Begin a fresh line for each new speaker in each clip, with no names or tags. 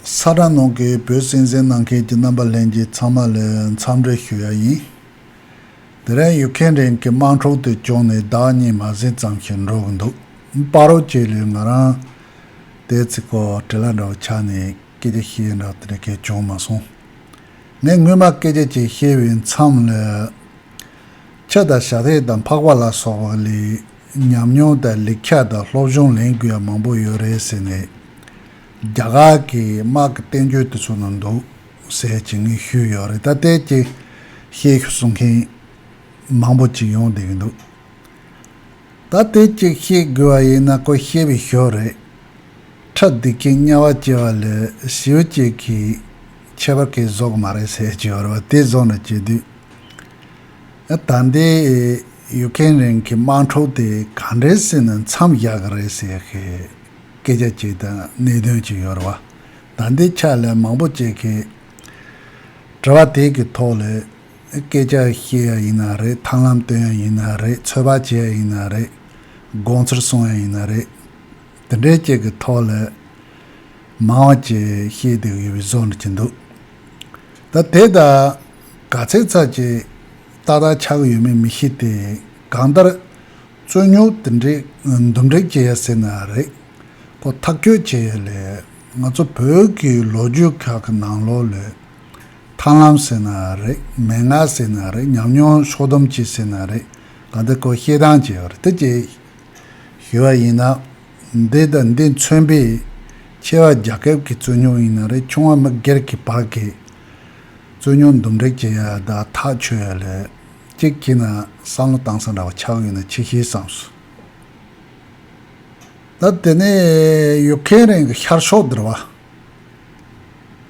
ས་དྲང་ནང་གི་བོད་སྲིད་འཛིན་གནང་མཁན་གྱི་རྣམ་པ་ལྷན་རྒྱས་ཚང་མ་ལ་འཚམས་འདྲི་ཞུ་ཡག་ཡིན། དེ་རིང་ཡུག་གྷན་རིང་གི་དམངས་ཁྲོད་དུ་བྱུང་ནས་ཟླ་གཉིས་མ་ཟིན་ཙམ་ཞིག་འགྲོ་གི་འདུག་དཔའ་རོགས་ཁྱེད་ལས་ང་རང་དེའི་ཚིག་གོ་བྲི་ལ་འདྲ་བ་ཆགས་ནས་སྐད་ཆ་བཤད་ཡག་འདྲ་དེ་གལ་བྱུང་མ་སོང། ངས་སྔོན་མ་སྐད་ཆ་གཅིག་བཤད་པའི་མཚམས་ལ། ཁྱི་དང་ཞག་ཐེག་དང་འཕགས་པ་ལ་སོགས་པ་ལས་ཉམས་མྱོང་དང་ལེགས་ཆ་དང་སློབ་སྦྱོང་ལེན་དགོས་ཡག་མང་པོ་ཡོད་རེད་ཟེར་ནས། རྒྱ་གར་གྱི་དམག་གི་བསྟན་བཅོས་དེ་ཚོ་ནང་འདུག་ཟེར་གྱི་ངས་ཞུས་ཡོད་རེད་ད་ལྟའི་ཀྱི་ཤེས་ཤུགས་གསུང་མཁན་མང་པོ་ཅིག་ཡོང་བསྡད་ཀྱི་འདུག་ད་དེ་ཅིག་ཤེས་དགོས་བ་ཡིན་ན་ཀོ་ཤེས་པའི་ཞོར་རེད། ཁྲག་སྡིག་མཁན་དམྱལ་བ་སྐྱེ་བ་ལས་ཞེའུ་སྐྱེས་ཀྱི་ཁྱད་པར་གས་བཟོ་གི་མ་རེད་ཟེར་གྱི་ཡོད་རེད་བ་དེ་བཟོ་ནས་བྱེད་དུས་ཨ་ད་འདི་ཡུ་ཀེན་རན་གྱི་དམག་འཁྲུག་དེ་ག་འདྲའི་སྲིད་ནས་མཚམས་བཞག་གི་རེད་ཟེར་ཤེས་སྐད་ཆ་གཅིག་དང་གནད་དོན་གཅིག་ཡོད་རེད་བ། ད་འདི་ཕྱག་ལས་མང་པོ་བྱེད་མཁན། དྲི་བ་དེ་གི་ཐོག་ལས། སྐད་ཆ་བཤད་ཡ་ཡིན་ན་རེད་ཐང་ལམ་སྟོན་ཡ་ཡིན་ན་རེད་ཚོད་དཔག་བྱེད་ཡ་ཡིན་ན་རེད། དགོངས་ཚུལ་གསུང་ཡ་ཡིན་ན་རེད། དེ་འདྲའི་བཅས་གི་ཐོག་ལས། མང་བ་བཅས་བཤད་དེ་ཡོད་པའི་བཟོ་འདྲ་གྱི་འདུག། ད་དེ་དག་ག་ཚད་ཚར་བཅས། ཏག་ཏག་ཆགས་གི་ཡོད་མེད་མི་ཤེས་ཏེ། གང་ལྟར། རྩོད་རྙོག་དེ་འདྲའི་འདུམ་འགྲིག་བྱེད་ཡ་སྲིད་ན་རེད། ཁོ་ཐག་གཅོད་བྱེད་ཡ་ལས་ང་ཚོ་བོད་ཀྱི་ལོ་རྒྱུས་ཁག་གི་ནང་ལོ་ལོས། ཐང་ལམ་ཟེར་ན་རེད་མན་ངག་ཟེར་ན་རེད་ཉམས་མྱོང་ཕྱོགས་སྡོམ་བྱེད་ཟེར་ན་རེད་གང་འདི་ཁོ་ཤེས་དང་བྱས་རེད་དེ་ཅི། ཞུས་བ་ཡིན་ན། འདི་དང་འདི་མཚོན་པའི། ཆེ་བ་རྒྱ་ཁབ་ཀྱི་རྩོད་རྙོག་ཡིན་ན་རེད་ཆུང་བ་མི་སྒེར་གྱི་བར་གྱི། རྩོད་རྙོག་འདུམ་འགྲིག་བྱེད་ཡ་དག་ཐག་ཆོད་ཡ་ལས། གཅིག་གྱིས་ན་སང་ལོ་དྭངས་གཙང་འདྲ་བ་ཆགས་ཡོད་ན་ཆེ་ཤེས་བསམས་སོ། ད་དེ་ནས་ཡུག་ཁན་རན་གྱི་ཤར་ཕྱོགས་འདིར་བ།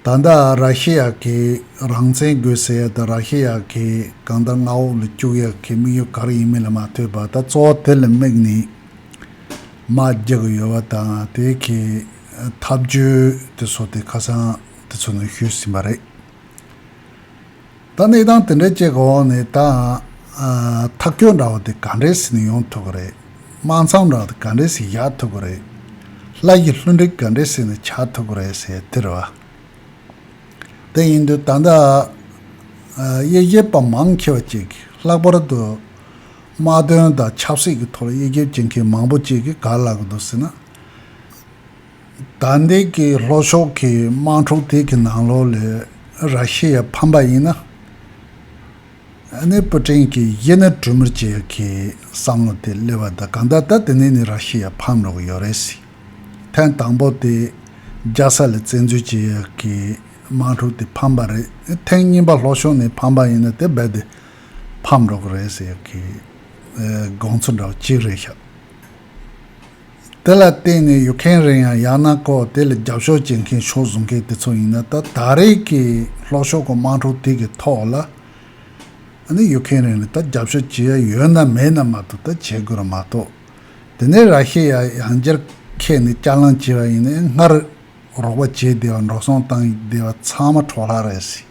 ད་ལྟ་ར་ཤི་ཡ་གིས་རང་བཙན་དགོས་ཟེར་ཡ་ད་ར་ཤི་ཡ་གིས་གང་ལྟར་མངའ་འོག་ལ་བཅུག་ཡ་གི་དམིགས་ཡུལ་ག་རེ་ཡིན་མིན་ལ་མ་ལྟོས་པར་ད་གཙོ་བོ་དེ་ལ་དམིགས་ནས་མ་རྒྱག་གི་ཡོད་བ་དང་དེ་གི་ཐབས་བྱུས་དེ་ཚོ་དེ་ཁ་སང་དེ་ཚོ་ནས་ཞུས་ཟིན་པ་རེད། ད་གནས་སྟངས་དེ་འདྲ་སྤྱད་གི་འོག་ནས་ད། ཐག་སྐྱོད་འདྲ་བོ་དེ་ག་འདྲས་སུ་ནས་ཡོང་ཐུབ་ཀི་རེད། དམག་འཚམས་འདྲ་བོ་དེ་ག་འདྲས་སུ་བཞག་ཐུབ་ཀི་རེད། ལྷ་ཡི་ལྷུན་སྒྲིག་ག་འདྲས་སུ་ནས་ཆགས་ཐུབ་ཀི་རེད་ཟེར་དུས་རེད་བ། དེ་ཡིན་དུས་ད་ལྟ། དབྱེ་འབྱེད་པ་མང་ཆེ་བ་ཅིག་གིས་ལྷག་པར་དུ། དམག་དོན་དང་ཆབ་སྲིད་ཀྱི་ཐོག་དབྱེ་འབྱེད་བྱེད་མཁན་མང་པོ་ཅིག་གིས་ག་ལ་གི་འདུག་ཟེར་ན། ཟླ་འདི་གའི་ལྷོ་ཕྱོགས་ཀྱི་དམག་འཁྲུག་དེ་གི་ནང་ལོགས་ལས་ར་ཤི་ཡ་ཕམ་པ་ཡིན་ན། ནི་པུ་ཀྲིན་གྱི་ཡེ་ནས་གྲུ་མིར་བཅས་ཀྱི་བསམ་བློ་དེ་སླེབས་བ་ད་གང་ད་ད་དེ་ནས་ནི་ར་ཤི་ཡ་ཕམ་རོགས་ཡོད་རེད་སྲིད། ཐེངས་དང་པོ་དེ་རྒྱ་ས་ལ་བཙན་འཛུལ་བྱས་ཡ་གི་དམག་འཁྲུག་དེ་ཕམ་པ་རེད་ཐེངས་གཉིས་པ་ལྷོ་ཕྱོགས་ནས་ཕམ་པ་ཡིན་ན་དེ་རྦད་དེ་ཕམ་རོགས་རེད་ཟེར་ཡ་གི་དགོངས་ཚུལ་འདྲ་བ་གཅིག་རེད་ཤག། དེ་ལ་བརྟེན་ནས་ཡོད་མཁན་རེད་ཡང་ཡག་ན་ཀོ་དེ་ལ་རྒྱབ་ཤོག་བྱེད་མཁན་ཤོག་བཟོ་མཁན་དེ་ཚོ་ཡིན་ན་ད་ད་རེས་ཀྱི་ལྷོ་ཕྱོགས་ཀྱི་དམངས་ཁྲོད་དེ་གི་ཐོག་ལ་ནི་ཡོད་མཁན་རེད་ནི་ད་རྒྱབ་ཤོག་བྱེད་ཡ་ཡོད་ན་མེད་ན་མ་གཏོགས་ད་བྱེད་དགོས་ར་མ་གཏོགས་དེ་ནས་ར་ཤེས་ཡ་ཡང་རྒྱར་ཁད་ནི་སྐྱར་ལངས་བྱེད་པ་ཡིན་ནའི་སྔར་རོགས་པ་བྱེད་བདེ་བ་འགྲོ་སོང་བཏང་བདེ་བ་ཚང་མ་འཕྲོག་ལྷག་རེད་སྲིད།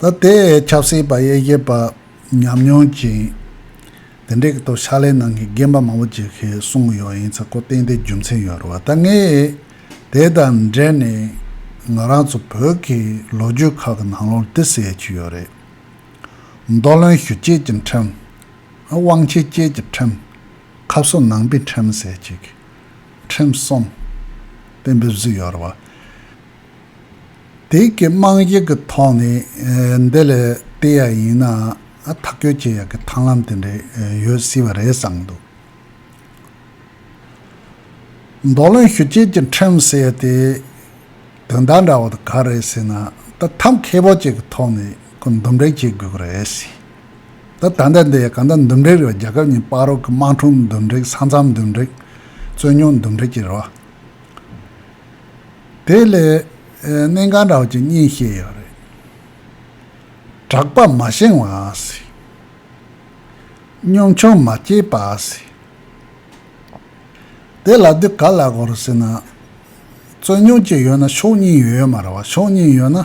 ལ་དེ་ཡས་ཆབ་སྲིད་པ་ཡེ་ཤེས་པ་ཉམས་མྱོང་ཅན། དེ་འདྲས་ཀྱི་ཐོག་ཕྱག་ལས་གནང་མཁན་རྒན་པ་མང་པོ་བྱེད་མཁན་གསུང་གི་ཡོད་ཡིན་ཚ་ཁོ་བསྟན་དེ་རྒྱུ་མཚན་ཡོད་རེད་བ་ད་ངས་དེ་དང་འབྲེལ་ནས་ང་རང་ཚོ་བོད་ཀྱི་ལོ་རྒྱུས་ཁག་གི་ནང་ལོར་དེ་ཟེར་གྱི་ཡོད་རེད། མདོ་བློན་བཞུ་བཅས་ཀྱི་ཁྲིམས། དབང་ཆེ་བཅས་ཀྱི་ཁྲིམས། ཁབ་གསོ་ནང་པའི་ཁྲིམས་ཟེར་གྱི་ཁྲིམས་གསུམ། དེ་འབེབས་གཟིགས་ཡོད་རེད་བ། དེ་གའི་དམངས་གཞས་ཀྱི་ཐོག་ནས་འདི་ལས་བལྟས་ཡ་ཡིན་ན་ཐག་གཅོད་བྱེད་ཡ་གི་ཐང་ལམ་དེ་འདྲས་ཡོད་སྲིད་པ་རེད་བསམ་འདུག། མདོ་ལོན་ཞུ་བྱེད་ཀྱི་འཁྲེང་ཟེར་ཡ་དེ་དོན་དག་འདྲ་བོ་དེ་ག་རེད་ཟེར་ན་འདི་ཐབས་མཁས་པོ་གཅིག་གི་ཐོག་ནས་ཁོ་འདུམ་འགྲིག་བྱེད་དགོས་ཀྱི་རེད་སྲིད། ད་ལྟ་འདི་ཡ་ག་འདི་འདུམ་འགྲིག་རེད་བ་རྒྱ་ཁབ་གཉིས་པགས་རོགས་ཀྱི་དམངས་ཁྲོམ་འདུམ་འགྲིག་ས་མཚམས་འདུམ་འགྲིག་རྩོད་རྙོག་འདུམ་འགྲིག་བྱེད་རོགས། དེ་ལས་གནས་གང་དྲག་ཅིག་གཉིད་བཤད་ཡག་རེད། གྲགས་པ་མ་བཞེངས་བ་སྲིད། གཉོམ་ཆུང་མ་སྐྱེས་པ་སྲིད། དེ་ལ་དུས་ག་ལ་གོ་རུ་སྲིད་ན། རྩོད་རྙོག་ཅིག་ཡོད་ན་ཕྱོགས་གཉིས་ཡོད་མ་རེད་བ་ཕྱོགས་གཉིས་ཡོད་ན།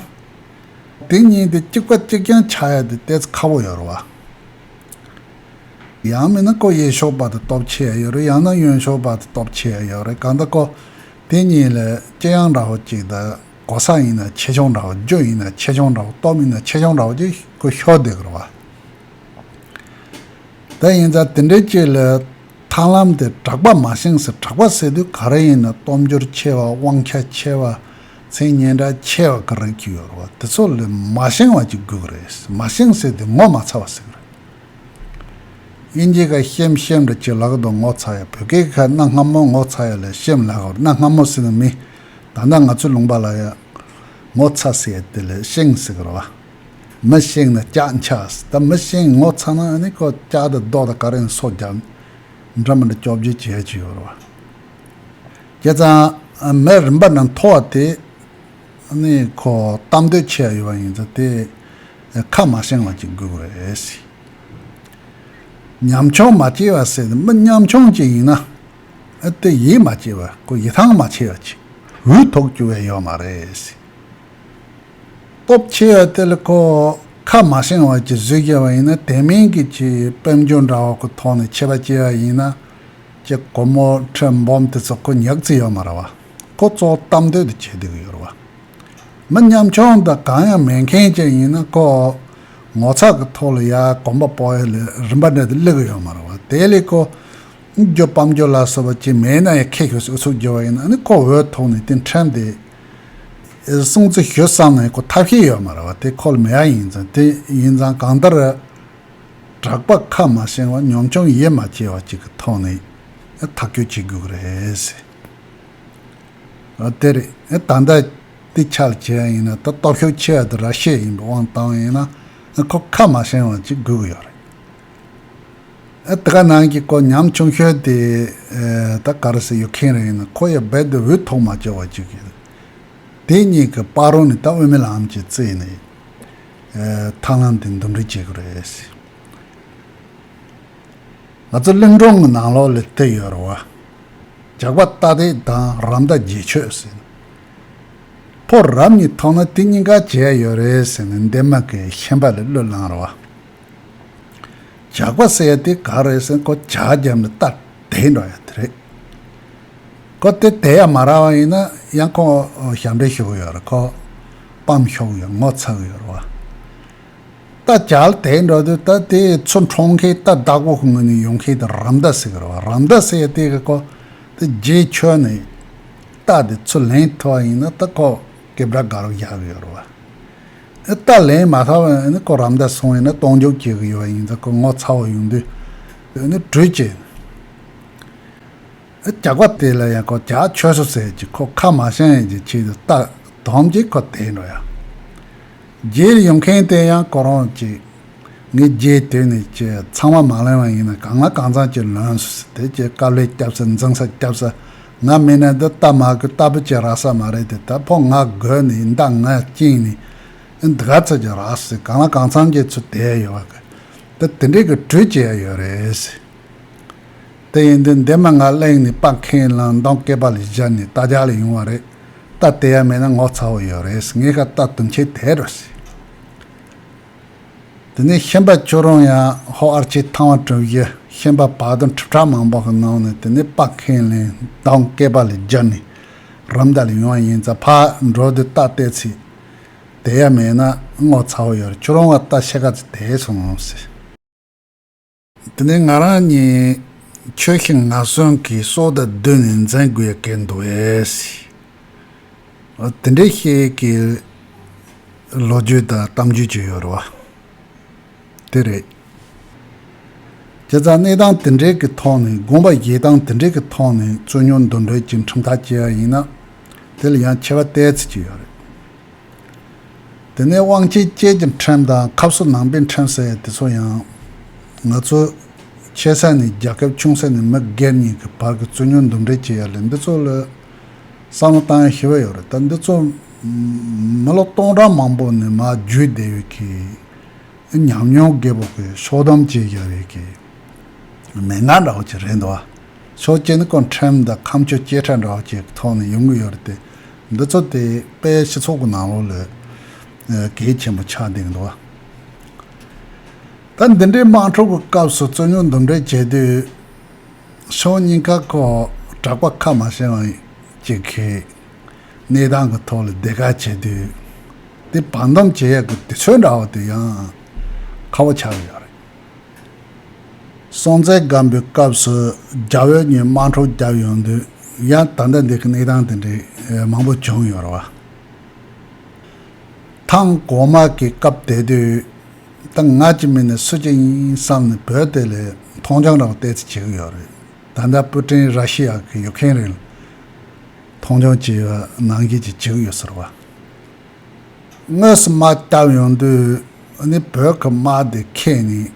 དེ་གཉིས་དེ་གཅིག་པ་གཅིག་རྐྱང་ཆགས་ཡ་དེ་བལྟས་ཚེ་ཁ་བོ་ཡོད་རེད་བ། ཡང་མིན་ན་སྐོ་གཡས་ཤོག་སྦག་ཏུ་སྟོབས་ཆེ་ཡང་ཡོད་རེད་ཡང་ན་གཡོན་ཤོག་སྦག་ཏུ་སྟོབས་ཆེ་ཡང་ཡོད་རེད་གང་ལྟ་སྐོ་དེ་གཉིས་ལས་ལྕེ་ཡང་འདྲ་བོ་གཅིག་དང་གོ་ས་ཡིན་ན་ཆེ་ཆུང་འདྲ་བོ་རྒྱུ་ཡིན་ན་ཆེ་ཆུང་འདྲ་བོ་སྟོབས་ཡིན་ན་ཆེ་ཆུང་འདྲ་བོ་གཅིག་སྐོ་ཤོག་དེ་གོ་བ་དེ་ཡིན་ཙང་དེ་འདྲའི་གཅིག་ལས་ཐང་ལམ་དེ་དྲག་པ་མ་བཞེངས་ཟེར་དྲག་པ་ཟེར་དུས་ག་རེ་ཡིན་ན་སྟོབས་འབྱོར་ཆེ་བ་དབང་ཆ་ཆེ་བ་མཚན་སྙན་གྲགས་ཆེ་བ་ག་རེ་གཅིག་ཡོད་རེད་བ་དེ་ཚོ་ལས་མ་བཞེངས་བ་གཅིག་དགོས་ཀྱི་རེད་མ་བཞེངས་ཟེར་དུས་ངོ་མ་ཚ་བ་ཟེར་གྱི་རེད། དབྱིན་ཇི་ཁ་ཤེམ་ཤེམ་རེད་ཁྱོད་ལག་དང་ངོ་ཚ་ཡ་བོད་སྐད་ཁ་སྣ་སྔ་མོ་ངོ་ཚ་ཡ་ལ་ཤེམ་ལག་བར་སྣ་སྔ་མོ་ཟེར་ནི་མི་ད་ལྟ་ང་ཚོའི་ལུང་པ་ལ་ཡང་ངོ་ཚ་ཟེར་ཡ་དེ་ལ་ཤེང་ཟེར་གི་རེད་བ། མི་ཤེང་ན་སྐྱག་འཁྱགས་ཟེར་ད་མི་ཤེང་ངོ་ཚ་ན་ནི་ཁོ་སྐྱག་དང་རྡོག་དང་ཀ་རེང་སོགས་རྒྱག་ནི་འདྲ་མི་འདྲ་སྐྱོབ་བརྗོད་བྱེད་ཡ་ཅི་ཡོད་རེད་བ། ཁྱེད་ཚང་མས་རིམ་པ་ནང་མཐོ་བ་དེ་ནི་ཁོ་གཏམ་འདོད་ཆེ་ཡ་ཡོད་བ་ཡིན་ཚ་དེ་ཁ་མ་བཤང་བ་ཅིག་དགོས་པ་རེད། ཉམ་ཆུང་མ་སྐྱེས་བ་ཟེར་ནས་མི་ཉམ་ཆུང་ཅིག་ཡིན་ན་དེ་ཡིད་མ་ཆེས་པར་ཁོ་ཡི་ཐང་མ་ཆེ་བ་ཅིག་འུ་ཐོག་རྒྱུ་བས་ཡོད་མ་རེད། སྟོབས་ཆེ་བ་དེ་ལ་ཁོ་ཁ་མ་བཤང་བ་ཅིག་བཟོས་རྒྱབ་པ་ཡིན་ན་དེ་མིན་གྱི་ཆེ་དཔལ་འབྱོར་འདྲ་བ་ཁོ་ཐོག་ནས་ཆེ་བ་སྐྱེས་བ་ཡིན་ན་ཀྱེ་ཁོ་མོ་ཁྲི་འབུམ་དེ་ཚོ་ཁོ་ཉག་རྩི་ཡོད་མ་རེད་བ། ཁོ་ཚོ་གཏམ་འདོད་དུ་བྱེད་སྡོད་ཀྱི་ཡོད་རེད་བ། མི་ཉམ་ཆུང་དང་གང་ཡང་མེད་མཁན་ཅན་ཡིན་ན་ཁོ་ངོ་ཚ་གི་ཐོག་ལ་ཡ་གོམ་པ་སྤོ་ཡ་ལས་རིན་པ་འདྲ་དེ་གླེགས་ཡོད་མ་རུང་བ་དེ་ལས་ཁོ་རྒྱུ་སྤམ་རྒྱུ་ལ་སོགས་པ་ཅི་མེད་ན་ཡང་ཁེ་ཤོར་སའི་ཨུ་ཚུགས་རྒྱུ་བ་ཡིན་ན་ནི་ཁོ་འོས་ཐོག་ནས་དེ་འཕྲལ་འདི་སྲུང་བརྩི་ཞུ་བསམ་ན་ཡང་ཁོ་ཐབས་ཤེས་ཡོད་མ་རུང་བ་དེ་ཁོ་ལ་མེད་ཡ་ཡིན་ཙང་དེ་ཡིན་ཙང་གང་ལྟར་གྲགས་པ་ཁ་མ་ཞེང་བ་ཉམ་ཆུང་ཡིད་མ་ཆེས་བ་ཅིག་གི་ཐོག་ནས་ཐག་གཅོད་བྱེད་དགོས་ཀྱི་རེད། དེ་རེད། ད་ལྟ་དེ་ཆགས་ཆེ་བ་ཡིན་ན་ད་སྟོབས་ཤུགས་ཆེ་བ་དེ་ར་ཤི་ཡ་ཡིན་པའི་དབང་བཏང་ཡིན་ན་ཁོ་ཁ་མ་བྱང་བ་ཅིག་སྒུག་གི་ཡོད་རེད། ཨ་ད་ག་ནང་གི་སྐོར་ཉམས་ཆུང་ཤོས་དེ་ད་ག་རུ་སི་ཡོད་མཁན་རེད་ཡིན་ན་ཁོ་ཡ་རྦད་དེ་འུད་ཐོག་མ་བཅོལ་བ་ཅིག་གི་དེ་གཉིས་ཀྱི་དཔའ་རོ་ནི་ད་དབུ་མེད་ལམ་གྱི་རྩེ་ནས་ཐང་ལམ་དེ་འདུམ་འགྲིག་བྱེད་གི་རེད། ང་ཚོ་གླིང་སྒྲུང་གི་ནང་ལོགས་ལས་བལྟས་ཡོད་རེད་བ། ཇག་པ་རྟ་དེ་དང་རམ་རྟ་རྗེས་ཆོད་ཟིན། ཕོ་རབ་གཉིས་ཐོག་ན་དེ་གཉིས་ཀ་བྱས་ཡོད་རེད་ཟེར་ནས་འདན་མ་ཀའི་ཤན་པ་ལས་གླུ་བླངས་རེད་བ། ཇག་པ་བསད་དེ་ག་རེད་ཟེར་ཁོ་ཇག་རྒྱབ་ནས་རྟ་དེད་འགྲོ་ཡ་དེ་རེད། ཁོ་དེ་དེད་ཡ་མ་རག་བ་ཡིན་ན་ཡང་ཁོ་ཞབས་འདྲེན་ཞུ་གི་ཡོད་རེད་ཁོ་སྤམ་ཤོག་ཡོད་ངོ་ཚ་གི་ཡོད་རེད་བ། རྟ་བྱལ་དེ་འདྲ་དུ་རྟ་དེ་ཚོ་འཕྲོག་མཁན་རྟ་བདག་པོ་ངོས་ནས་ཡོང་མཁན་དེ་རམ་རྟ་ཟེར་བ་རམ་རྟ་ཟེར་དེ་ག་ཁོག་དེ་རྗེས་ཁྱོད་ནས་རྟ་དེ་ཚོ་ལེན་ཐུབ་པ་ཡིན་ན་རྟ་ཁོག་གེ་བྲག་ག་རུ་བཞག་གི་ཡོད་རེད་བ། ཨེ་རྟ་ལེན་མ་ཐག་པ་ནི་ཁོ་རམ་རྟ་སོང་ཡིན་ན་གཏོང་འཇོག་བྱེད་གི་ཡོད་པ་ཡིན་ཙང་ཁོ་ངོ་ཚ་བོ་ཡོང་དུས་ཨེ་ནི་གྲོས་བྱེད་ཨེ་བྱ་གོ་དེ་ལ་ཡང་ཁོ་བྱ་ཆོས་སོ་ཟེར་གྱི་ཁོ་ཁ་མ་བཤངས་ཡས་ཀྱི་ཆེད་དུ་རྟ་དོམ་གྱི་ཁོ་དེ་འདྲ་ཡང། རྗེས་ཡོང་མཁན་དེ་ཡང་གོ་རང་གཅིག། ངས་རྗེས་དེད་ནས་ཀྱི་ཚང་མ་མ་ལོན་བ་ཡིན་ན་གང་ལ་གང་འཚམ་ཀྱི་ལོན་སོང་དེ་ཀྱི་དཀའ་ལས་སྐྱབས་སེ་འཛིང་ས་སྐྱབས་སེ་ང་མིན་ན་འདི་ལྟ་མ་གི་ལྟ་བུ་ཀྱི་ར་ས་མ་རེད་དེ་ད་ཕོ་ང་དགོས་ནས་ཡིན་ད་ང་བཅིངས་ནས་ཨི་འདི་ག་ཚོད་ཀྱི་ར་ས་གང་ལ་གང་འཚམ་ཀྱི་ཚུལ་དེད་ཡོད་བ་གི་ད་དེ་འདྲས་ཀྱི་གྲོས་བྱེད་ཡ་ཡོད་རེད། དེ་ཡིན་དུས་འདས་མ་ང་གླེང་ནས་སྤ་མཁན་གླང་མདངས་སྐེད་པ་ལས་སྦྱར་ནས་རྟ་ལྗགས་ལས་ཡོང་བ་རེད་རྟ་དེ་ཡང་མེད་ན་ངོ་ཚ་བོ་ཡོད་རེད་ངས་ཁ་བཏགས་དུམ་ཆེ་དེད་རོ་ཟེར། དེ་ནས་ཤན་པ་ཁྱོད་རང་ཡང་ཧོ་ཨར་ཆེ་ཐང་བ་གྲུབ་ཡི་ཤན་པ་བག་དང་ཁྲི་ཕྲག་མང་པོ་གི་ནང་ནས་དེ་ནས་སྤ་མཁན་གླེང་མདངས་སྐེད་པ་ལས་སྦྱར་ནས་རམ་རྟ་ལས་ཡོང་བ་ཡིན་ཙང་ཕར་འགྲོ་དུས་རྟ་དེད་ཚེ་དེ་ཡང་མེད་ན་ངོ་ཚ་བོ་ཡོད་རེད་ཁྱོད་རང་བ་རྟ་ཕྱེད་ཀ་ཚོ་དེད་སོང་ཟེར། དེ་ནས་ང་རང་གཉིས་ཁྱོད་ཤི་ང་གསོན་གྱི་སྲོག་དང་བསྡོས་ནས་འཛིན་དགོས་ཀྱི་འདུག་བས། དེ་འདྲའི་ཤེས་ཀྱི་ལོ་རྒྱུས་དང་གཏམ་རྒྱུད་ཅིག་ཡོད་རེད་བ། དེ་རེད། ཁྱེད་རང་གནས་སྟངས་དེ་འདྲའི་གི་ཐོག་ནས་དགོངས་པ་བཞེས་སྟངས་དེ་འདྲའི་གི་ཐོག་ནས་རྩོད་རྙོག་འདུ་འབྲེལ་གྱི་ཁྲིམས་ཐག་བཅད་ཡ་ཡིན་ན་དེ་ལ་ཡང་ཆེ་བ་བལྟས་ཚོད་ཅིག་ཡོད་རེད། དེ་ནས་དབང་ཆའི་སྐྱེད་ཀྱི་ཁྲིམས་དང་ཁབ་སོ་ནང་པའི་ཁྲིམས་ཟེར་དེ་ཚོ་ཡང། ང་ཚོ། ཆེ་ས་ནས་རྒྱ་ཁབ་ཆུང་ས་ནས་མི་སྒེར་གཉིས་ཀྱི་བར་གྱི་རྩོད་རྙོག་འདུམ་འགྲིག་བྱེད་ཡ་ལས་འདི་ཚོ་ལ། བསམ་བློ་བཏང་ཡ་ཞི་བ་ཡོད་རེད་ད་འདི་ཚོ། མི་ལོ་སྟོང་ཕྲག་མང་པོ་ནས་མ་བརྒྱུད་བསྡད་ཡོད་ཀི། ཉམས་མྱོང་རྒད་པོ་གི་ཤོག་སྡོམ་བྱེད་བཞག་ཡོད་ཀི། མི་ང་འདྲ་བོ་ཅིག་རེད་འདུག་བ། ཆོས་རྒྱལ་ནི་ཀོང་ཁྲན་དང་ཁམས་ཆོས་སྐྱེས་ཕྲ་འདྲ་བ་བཅས་ཀྱི་ཐོག་ནས་ཡོང་གི་ཡོད་རེད་དེ། འདི་ཚོ་དེ་པའི་སྤྱི་ཚོགས་ཀྱི་ནང་ལོགས་ལས་གལ་ཆེན་པོ་ཆགས་འདུག་འདུག་བ། ད་འདི་འདྲའི་དམངས་ཁྲོད་ཀྱི་སྐབས་སུ་རྩོད་རྙོག་འདུམ་འགྲིག་བྱེད་དུས། ཕྱོགས་གཉིས་ཀ་ཁོག་གྲགས་པ་ཁ་མ་ཤེས་བ་གཅིག་གིས་གནས་སྟངས་ཀྱི་ཐོག་ལ་བདེ་ཁ་བྱེད་དུས། དེ་བར་འདུམ་བྱེད་ཡག་གི་དུས་ཚོད་འདྲ་བ་དུ་ཡང་ཁ་བོ་ཆགས་ཀྱི་ཡོད་རེད། སྲོང་བཙན་སྒམ་པོའི་སྐབས་སུ་རྒྱ་བོད་གཉིས་དམངས་ཁྲོད་བརྒྱབ་ཡོང་དུས་ཡང་ད་ལྟ་འདི་གི་གནས་སྟངས་དེ་འདྲའི་མང་པོ་བྱུང་ཡོད་རེད། ཐང་གོང་མ་གི་སྐབས་དེ་དུས་ད་ང་ཅི་མིན་ནས་སུ་ཅི་ཡིན་བསམ་ནས་བོད་དེ་ལས་མཐོང་ཆུང་རང་བལྟས་ཚེ་བྱེད་ཀྱི་ཡོད་རེད། ད་ལྟ་པུ་ཀྲིན་ར་ཤི་ཡ་གི་ཡུག་ཁེན་རིང་ལ་མཐོང་ཆུང་བྱས་པ་ནང་བཞིན་གྱི་བྱེད་ཀྱི་ཡོད་ཟེར་བ། དངོས་སུ་མ་བསྐྱབས་ཡོང་དུས་ནི་བོད་ཀྱི་དམག་སྡེ་ཁྱེད་ཉིད་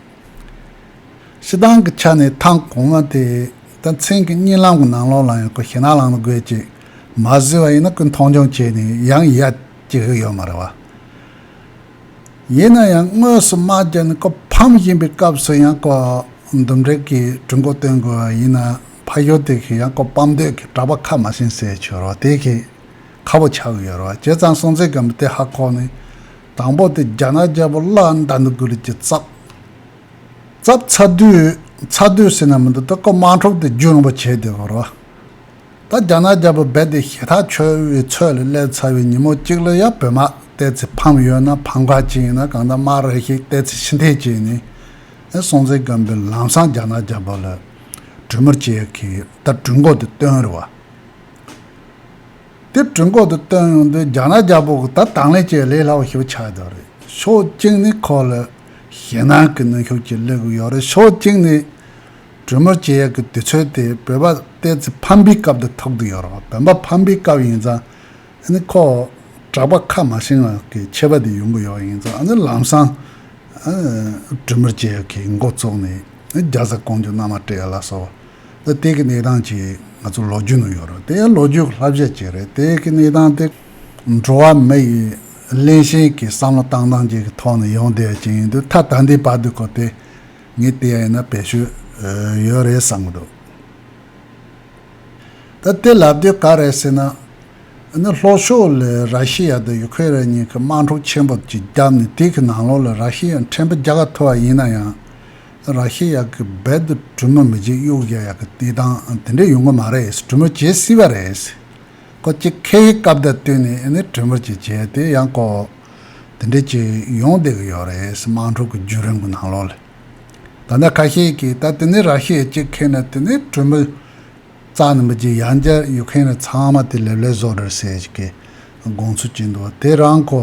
ཕྱི་ཐང་གི་ཆ་ནས་ཐང་གོང་མ་དེ་ད་མཚན་གྱི་གཉིད་ལམ་གྱི་ནང་ལོགས་ལ་ཡང་ཁོ་ཞེད་སྣང་ལངས་ན་དགོད་ཅིག་མ་བཟོས་བ་ཡིན་ན་ཀུན་མཐོང་ཆུང་བྱས་ནས་ཡང་ཡལ་གྱི་ཧུ་ཡོད་མ་རེད་བ། ཡིན་ན་ཡང་དངོས་སུ་དམག་སྦྱར་ནས་ཁོ་ཕམ་བཞིན་པའི་སྐབས་སུ་ཡང་ཁོ་འདུམ་འགྲིག་གི་གྲོས་འགོ་བཏོན་དགོས་བ་ཡིན་ན་ཕ་ཞོལ་དེ་གིས་ཡང་ཁོ་ཕམ་འདོད་ཀྱི་གྲགས་པ་ཁ་མ་ཞན་ཟེར་ཆོས་རོགས་དེ་གིས། ཁ་བོ་ཆགས་ཡོད་རོགས་བྱས་ཙང་སྲོང་བཙན་སྒམ་པོ་སྟེ་ཧ་ཁོག་ནི། དང་པོ་སྟེ་རྒྱ་ནག་རྒྱལ་པོ་བླ་མདའ་འདི་དགུ་ལས་ཀྱི་ཚབ། ཚབ་ཚ་དུས་ཚ་དུས་ཟེར་ན་མི་འདུག་ད་ཀོ་དམངས་ཁྲོམ་དེ་རྒྱུ་རིང་པོ་བྱས་དེ་གོ་རོགས། ད་རྒྱ་ནག་རྒྱལ་པོ་རྦད་དེ་ཞེ་ཐག་ཆོད་བའི་ཚོད་ལ་སླེབས་ཚར་བའི་ཉིན་མོ་གཅིག་ལ་ཡ་བོད་དམག་བལྟས་ཚེ་ཕམ་ཡོད་ན་ཕམ་ཁ་ཅིག་ཡིན་ན་གང་ལྟར་དམག་རེ་ཞིག་བལྟས་ཚེ་ཕྱི་འཐེན་བྱས་ནས། སྲོང་བཙན་སྒམ་པོའི་ལམ་སང་རྒྱ་ནག་རྒྱལ་པོ་ལ་གྲོས་མོར་བྱས་ཡོད་ཁི་ད་གྲོས་འགོ་དེ་བཏོན་རེ་བ། དེབ་བྲིན་ཁོག་ཏུ་བཏོན་ཡོང་དུས་རྒྱ་ནག་རྒྱལ་པོ་གིས་ད་དང་ལེན་བྱེད་ལེ་ལག་ཞུ་ཆ་ཡོད་རེད་ཕྱོགས་གཅིག་ནས་ཁོ་ལ་ཞེད་སྣང་གི་ནུས་ཤུགས་ཀྱིས་སླེབས་གི་ཡོད་རེད་ཕྱོགས་གཅིག་ནས་གྲོས་མོལ་བྱེད་ཡག་གི་དུས་ཚོད་དེ་བོད་པ་བལྟས་ཚེ་ཕམ་པའི་སྐབས་དེ་ཐོབ་གི་ཡོད་རང་བོད་པ་ཕམ་པའི་སྐབས་ཡིན་ཙང་ཨ་ནི་ཁོ་གྲགས་པ་ཁ་མ་ཞེང་བ་གི་ཆད་པ་དེ་ཡོང་གི་ཡོད་ཡིན་ཙང་ཨ་ནི་ལམ་སང་གྲོས་མོལ་བྱེད་ཡག་གི་མགོ་བཙུགས་ནས་རྒྱ་བཟའ་གང་བྱུང་མནའ་མ་སྤྲད་ལ་སོགས་ཨ་ཏི་ཀི་གནས་སྟངས་ཀྱིས་ང་ཚོ་ལོ་རྒྱུས་ནང་ཡོད་རེད་དེ་ལོ་རྒྱུས་ལྷ་བཤད་ཅིག་རེད་དེ་གི་གནས་སྟངས་དེ། འགྲོ་བ་མི་ཡི་བླན་བཤན་གྱི་བསམ་བློ་བཏང་སྟངས་ཅིག་གི་ཐོག་ནས་ཡོང་བསྡད་ཅིག་ཡིན་དུས་ཐ་ད་འདི་བར་དུ་གོ་དེ་ངས་བལྟས་ཡ་ཡིན་ན་བེད་སྤྱོད་ཡོད་རེད་བསམ་གི་འདུག་ད་དེ་ལབ་དུས་ག་རེད་ཟེར་ན། ནི་ལྷོ་ཕྱོགས་ལས་ར་ཤི་ཡ་དང་ཡུ་ཁེ་རན་གཉིས་ཀྱི་དམག་འཁྲུག་ཆེན་པོ་ཅིག་བརྒྱབ་ནས་དེ་གི་ནང་ལོགས་ལ་ར་ཤི་ཡའི་ཕྲན་བུ་རྒྱ་གར་ཐུ་བ་ཡིན་ན་ཡང། ར་ཤི་ཡ་གི་སྦལ་དུ་གྲུ་མོ་མི་འཇིགས་གཡུག་བཞག་ཡག་གི་བལྟས་སྟངས་དེ་འདྲས་ཡོང་གི་མ་རེད་གྲུ་མོ་བྱེད་སྲིད་པ་རེད། ཁོ་སྐྱེ་ཁའི་སྐབས་དེར་བལྟོས་ནས་ཨེ་ནས་གྲུ་མོ་བྱེད་བྱས་དེ་ཡང་ཀོ། དེ་འདྲས་ཀྱི་ཡོང་བསྡད་ཀྱི་ཡོད་རེད་དམངས་ཁྲོད་ཀྱི་བརྒྱུད་རིམ་གྱི་ནང་ལོགས་ལས། ད་ནས་ཁ་ཤས་ཀྱིས་ད་དེ་ནས་ར་ཤི་ཡ་སྐྱེ་ཁའི་ནང་དེ་ནས་གྲུ་མོ་རྩ་ནས་མི་འཇིགས་ཡང་བསྐྱར་གཡུག་མཁན་རེད་ཚང་མ་དེ་ལེབ་ལེབ་བཟོ་རེད་ཟེར་གྱི་དགོངས་ཚུལ་བྱས་འདུག་དེ་རང་ཁོ།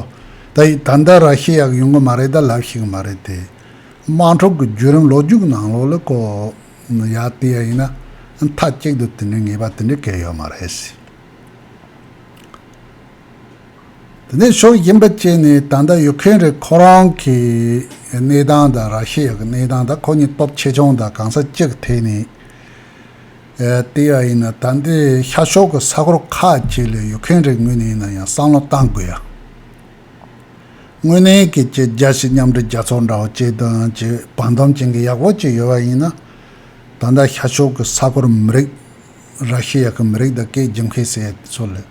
ད་ཡིས་ད་ལྟ་ར་ཤི་ཡ་གི་ཡོང་གི་མ་རེད་ད་ལབ་ཤེས་ཀྱི་མ་རེད་དེ། དམངས་ཁྲོད་ཀྱི་བརྒྱུད་རིམ་ལོ་རྒྱུས་ཀྱི་ནང་ལོགས་ལ་བཀོད་ཡག་བལྟས་ཡག་ཡིན་ན་མཐའ་གཅིག་ཏུ་དེ་འདྲའི་ངེས་པ་དེ་འདྲའི་གལ་ཡོད་མ་རེད། དེ་ནས་ཕྱོགས་གཞན་པ་བཅས་ནས་ད་ལྟ་ཡུག་ཁན་རིགས་ཁོ་རང་གི་གནས་སྟངས་དང་ར་ཤི་ཡ་གི་གནས་སྟངས་དང་ཁོ་གཉིས་སྟོབས་ཆེ་ཆུང་དང་གང་ས་ཅི་གི་ཐད་ནས་བལྟས་ཡག་ཡིན་ན་ད་འདིར་ཤར་ཕྱོགས་ཀྱི་ས་གོར་ཁག་ཅིག་ལ་ཡུག་ཁན་རིགས་ངོས་ནས་ཡིན་ན་ཡང་བསམ་བློ་གཏང་དགོས་ཡ། དངོས་གནས་སྐད་ཆ་རྒྱ་ཆེ་མཉམ་འབྲེལ་རྒྱ་མཚོ་འདྲ་བོ་བཅས་དོན་གྱི་བང་དོམ་ཅན་གྱི་ཡག་པོ་བཅས་ཡོད་པ་ཡིན་ན། ད་ལྟ་ཤར་ཕྱོགས་ཀྱི་ས་ཁོར་མི་རིགས། ར་ཤི་ཡ་གི་མི་རིགས་དང་སྐད་རྒྱུན་ཁེ་སེ་དེ་ཚོ་ལས།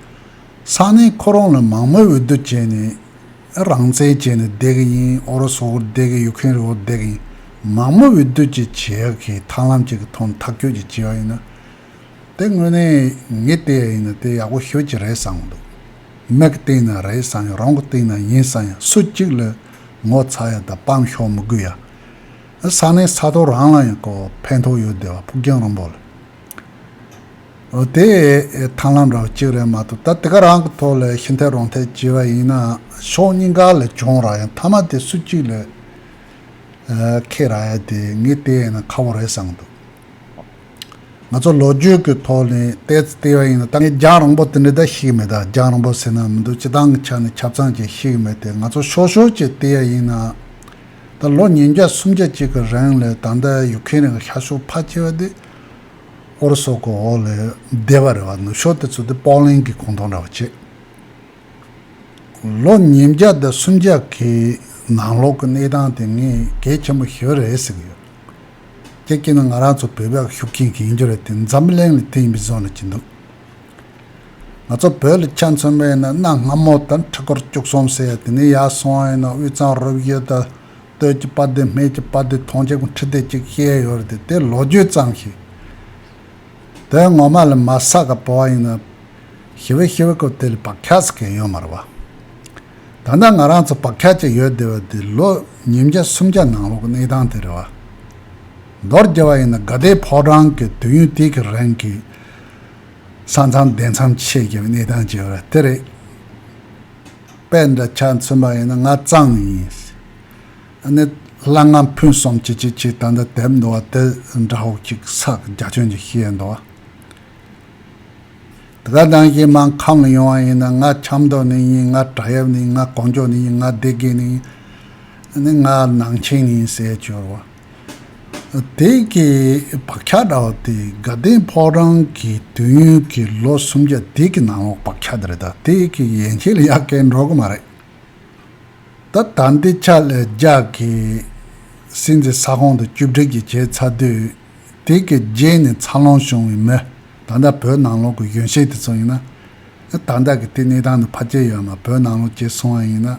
ས་གནས་ཁོ་རང་ལ་མང་མོས་འོས་བསྡུ་བྱས་ནས། རང་བཙན་བྱས་ནས་བསྡད་གི་ཡིན་ཨོ་རོ་སུ་འོག་བསྡད་གི་ཡུག་ཁན་རི་འོག་བསྡད་གི་ཡིན། མང་མོས་འོས་བསྡུ་བཅས་བྱེད་ཡག་གི་ཐང་ལམ་ཅིག་གི་ཐོག་མཐའ་འཁྱོལ་གྱིས་བྱས་པ་ཡིན་ན། དེ་དངོས་གནས་ངའི་ལྟས་ཡིན་ན་དེ་ཡག་པོ་ཤོད་ཀྱི་རེད་བསམ་གྱི་འདུག་མེག་གི་སྟེང་ན་རེད་བསམ་ཡང་རང་གི་སྟེང་ན་ཡིན་བསམ་ཡང་སུ་གཅིག་ལ་ངོ་ཚ་ཡ་དང་སྤང་ཤོག་མི་དགོས་ཡ། ཨ་ས་ནས་ས་ཐོག་རང་ལ་ཡང་ཀོ་ཕན་ཐོག་ཡོད་བསྡད་པ་ཕུགས་རྒྱང་རིང་པོ་ལ། འོ་དེ་ཐང་ལམ་འདྲ་བ་གཅིག་རེད་མ་གཏོགས་ད་དེ་ག་རང་གི་ཐོག་ལ་ཤི་འཐད་རོང་འཐད་བྱས་པ་ཡིན་ན་ཤོག་སྙིང་ག་ལ་གྱོང་རག་ཡང་མཐའ་མ་དེ་སུ་གཅིག་ལ་ཁེད་རག་ཡ་དེ་ངའི་ལྟས་ཡིན་ན་ཁ་བོ་རེད་བསམ་གྱི་འདུག། ང་ཚོ་ལོ་རྒྱུས་ཀྱི་ཐོག་ནས་བལྟས་ཙི་བལྟས་པ་ཡིན་ན་ད་ངས་རྒྱང་རིང་པོ་དེ་འདྲའི་བརྡ་ཤེས་མེད་ད་རྒྱང་རིང་པོ་ཟེར་ན་མི་འདུག་སྤྱི་བཏང་གི་ཆ་ནས་ཆབ་ཚང་ཅན་ཤེས་ཀྱི་མེད་དེ་ང་ཚོ་ཤོར་ཤོར་གྱིས་བལྟས་ཡ་ཡིན་ན། ད་ལོ་ཉིས་བརྒྱ་སུམ་བརྒྱ་ཅིག་གི་རིང་ལ་ད་ལྟ་ཡུག་ཁན་རིང་གི་ཤར་ཕྱོགས་ཕ་ཆེ་བ་དེ་ཨོ་རོ་སོ་གི་འོག་ལ་བསྡད་པ་རེད་བ་ནུབ་ཕྱོགས་དེ་ཚོ་དེ་པོག་ལེན་གྱི་གོང་ཐོག་འདྲ་བ་བྱེད། ལོ་ཉིས་བརྒྱ་དང་སུམ་བརྒྱ་གི་ནང་ལོག་གི་གནས་སྟངས་དེ་ངས་གལ་ཆེན་པོ་ཞེ་བ་རེད་ཟེར་གྱི་ཡོད། དེ་སྐྱེས་ན་ང་རང་ཚོ་བོད་པས་ཤུགས་རྐྱེན་གང་རྒྱུ་རེད་དེ་འཛམ་གླིང་ལ་བལྟས་ཡིན་པའི་བཟོ་ན་གྱི་འདུག་ང་ཚོ་བོད་ལ་ཆ་མཚོན་པ་ཡིན་ན་གནའ་སྔ་མོ་ལྟར་མཁྲེགས་སྐོར་བཅུག་སོང་ཟེར་ཡ་དེ་ནས་ཡར་སོང་ཡིན་ན་དབུས་གཙང་རོབ་གཡུ་ད་སྟོད་ཀྱི་པ་དེ་སྨད་ཀྱི་པ་དེ་ཐོངས་ཅེ་གུང་ཁྲི་དེ་གཅིག་བཤད་ཡོད་རེད་དེ་ལོ་རྒྱུས་ཙམ་ཞིག། བོད་ངོ་མ་ལ་མ་ས་ག་པོ་ཨ་ཡིན་ན། ཞི་བའི་ཞི་བའི་ཀོ་དེ་ལ་བག་ཆགས་ཀྱི་ཡོད་མ་རེད་བ། ད་ལྟ་ང་རང་ཚོ་བག་ཆགས་ཀྱི་ཡོད་བསྡད་བ་དེ་ལོ་ཉིས་བརྒྱ་སུམ་བརྒྱ་ནང་ལོག་གནས་སྟངས་དེ་རེད་བ། མདོར་རྒྱལ་བ་ཡིན་ན་དགའ་ལྡན་ཕོ་བྲང་གི་དུས་ཡུན་དེ་གི་རིང་གི་ས་མཚམས་སྡེ་མཚམས་ཆད་ཀྱི་གནས་སྟངས་ཀྱི་རེད་དེ་རེད། དཔེ་འདྲ་ཆ་མཚོན་པ་ཡིན་ན་ང་གཙང་ཡིན། ནི། སླ་ང་ཕུན་གསུམ་གྱིས་ཅི་ཅིའི་སྟན་དུ་དེབ་འདུ་བ་སྟེ་འདྲ་ཧོག་གཅིག་ཚག་རྒྱ་ཁྱོན་གྱི་ཤེས་ཡོན་འདུ་བ། དགའ་སྡང་གིས་སྨྲང་ཁམས་ལ་ཡོང་བ་ཡིན་ན་ང་ཆབ་མདོ་ནས་ཡིན་ང་བྲག་ཡབ་ནས་ཡིན་ང་གོང་ཇོ་ནས་ཡིན་ང་སྡེ་དགེ་ནས་ཡིན། ནི་ང་ནང་ཆེན་ནས་ཡིན་ཟེར་གྱུར་བ། དེ་གའི་བག་ཆགས་འདྲ་བོ་དེ་དགའ་ལྡན་ཕོག་རང་གི་དུས་ཡུན་གྱི་ལོ་སུམ་བརྒྱ་དེ་གའི་ནང་ལོག་བག་ཆགས་འདི་རེད་ད་དེ་གའི་ཡན་ཆད་ལ་ཡག་གེ་འགྲོ་གི་མ་རེད། ད་ལྟ་འདི་ཆ་ལས་རྒྱག་གི། སྲིད་འཛིན་ས་ཁོངས་དུ་བཅུ་དྲིལ་གྱིས་བྱས་ཚར་དུས། དེ་གའི་རྗེས་ནས་འཚར་ལོངས་བྱུང་བའི་མི། ད་ལྟ་བོད་ནང་ལོག་གི་གཞོན་སྐྱེས་དེ་ཚོ་ཡིན་ན། ད་ལྟ་གི་དེ་གནས་སྟངས་འདི་ཕར་བསྐྱལ་ཡོད་ན་བོད་ནང་ལོག་བྱས་སོང་བ་ཡིན་ན།